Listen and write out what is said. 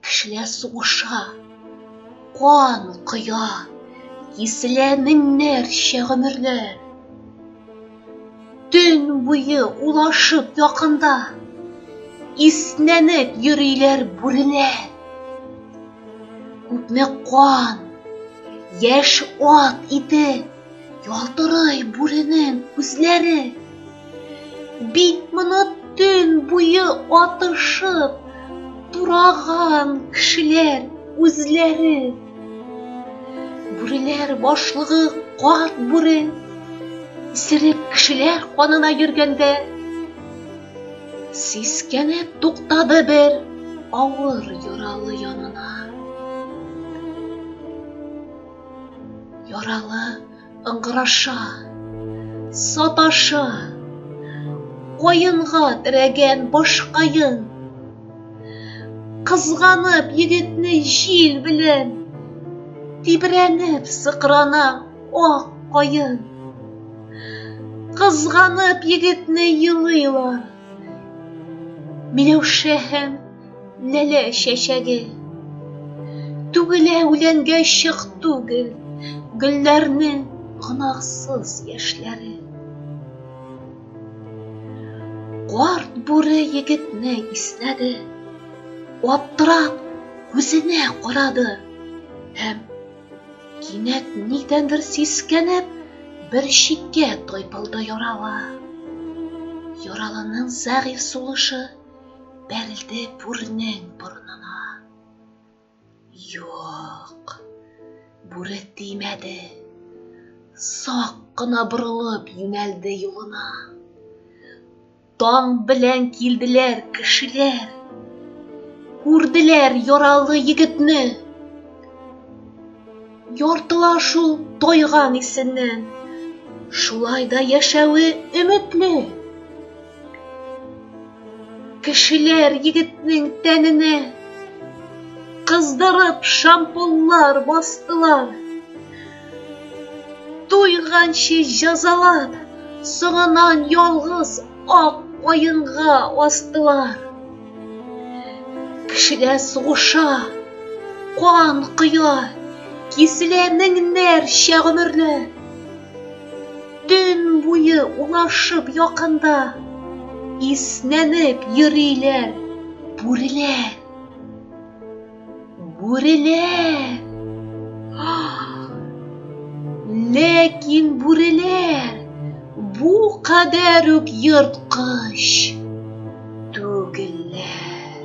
Кешеләр сугыша, кан коя, киселә меңнәрчә гомерләр. Төн буе улашып якында, иснәнеп йөриләр бүреләр. Күпме кан, яшь ат ите, ялтырый бүренең күзләре. Бит моны төн буе атышып, тураган кешеләр үзләре. Бүреләр башлыгы карт бүре, исерек кешеләр канына йөргәндә, сискәнеп туктады бер авыр яралы янына. Яралы Ыңгыраша, саташа, каенга терәгән башкаен. Кызганып егетне җил белән, тибрәнеп сыкрана ак каен. Кызганып егетне елыйлар, Миләүшә һәм ләлә чәчәге. Түгелә үләнгә чык түгел, гөлләрне гөнаһсыз яшьләре. Карт бүре егетне иснәде, аптырап күзенә карады һәм кинәт нидәндер сискәнеп бер читкә тайпылды ярала. Яралының зәгыйфь сулышы бәрелде бүренең борынына. Юк, бүре тимәде. Сак кына борылып юнәлде юлына. Таң белән килделәр кешеләр. Күрделәр яралы егетне. Яртыла шул тайган исеннән. Шулай да яшәве өметле. Кешеләр егетнең тәненә кыздырып шампунлар бастылар. Туйганчы җәзалап, соңыннан ялгыз ак каенга астылар. Кешеләр сугыша, кан коя, киселә меңнәрчә гомерләр. Төн буе улашып якында, иснәнеп йөриләр бүреләр. Бүреләр! Ләкин бүреләр бу кадәр үк ерткыч түгелләр.